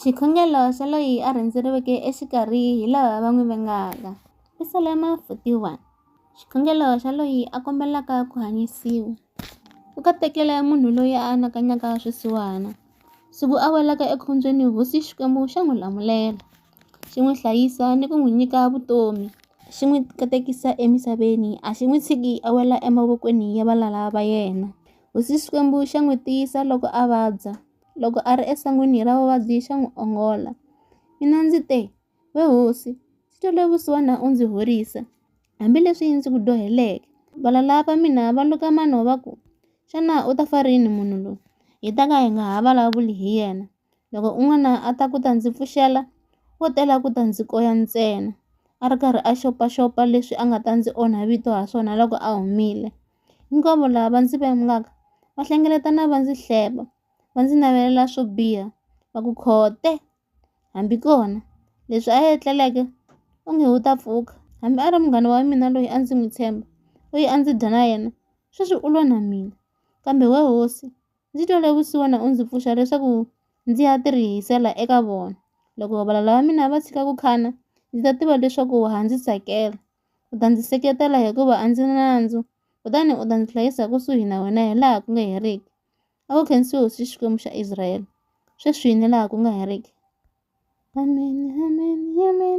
Xikhongelo xa loyi a rhendzeriweke exikarhi hi lava va n'wi vengaka. Psalma 41 Xikhongelo xa loyi a kombelaka ku hanyisiwa. U katekele munhu loyi a anakanyaka swisiwana, siku a welaka ekhombyeni hosi Xikwembu xa n'wi lamulela, xi n'wi hlayisa ni ku n'wi nyika vutomi, xi n'wi katekisa emisaveni, a xi n'wi tshiki a wela emavokweni ya valala va yena. Hosi Xikwembu xa n'wi tiyisa loko a vabya, loko a ri esangwini ra vavabyi xa n'wi ongola. Mina ndzi te, We hosi, ndzi twele vusiwana u ndzi horisa, hambileswi ndzi ku dyoheleke. Valala va mina va luka mano va ku, Xana u ta fa rini munhu loyi, hi ta ka hi nga ha vulavuli hi yena? Loko un'wana a ta ku ta ndzi pfuxela, wo tela ku ta ndzi koya ntsena, a ri karhi a xopaxopa leswi a nga ta ndzi onha vito ha swona loko a humile. Hinkwavo lava va ndzi vengaka va hlengeletana va ndzi hleba, va ndzi navelela swo biha, va ku, Khote! Hambi kona, leswi a a etleleke onge u ta pfuka. Hambi a ri munghana wa mina loyi a ndzi n'wi tshemba, loyi a ndzi dya na yena, sweswi u lwa na mina. Kambe wena hosi, Ndzi twele vusiwana u ndzi pfuxa leswaku ndzi ya tirhisela eka vona. Loko valala va mina va tshika ku khana, ndzi ta tiva leswaku wa ha ndzi tsakela. U ta ndzi seketela hikuva a ndzi nandzu, kutani u ta ndzi hlayisa kusuhi na wena hilaha ku nga heriki. A ku khensiwe Hosi Xikwembu xa Israele, sweswi ni laha ku nga heriki. Ameni, ameni, ameni.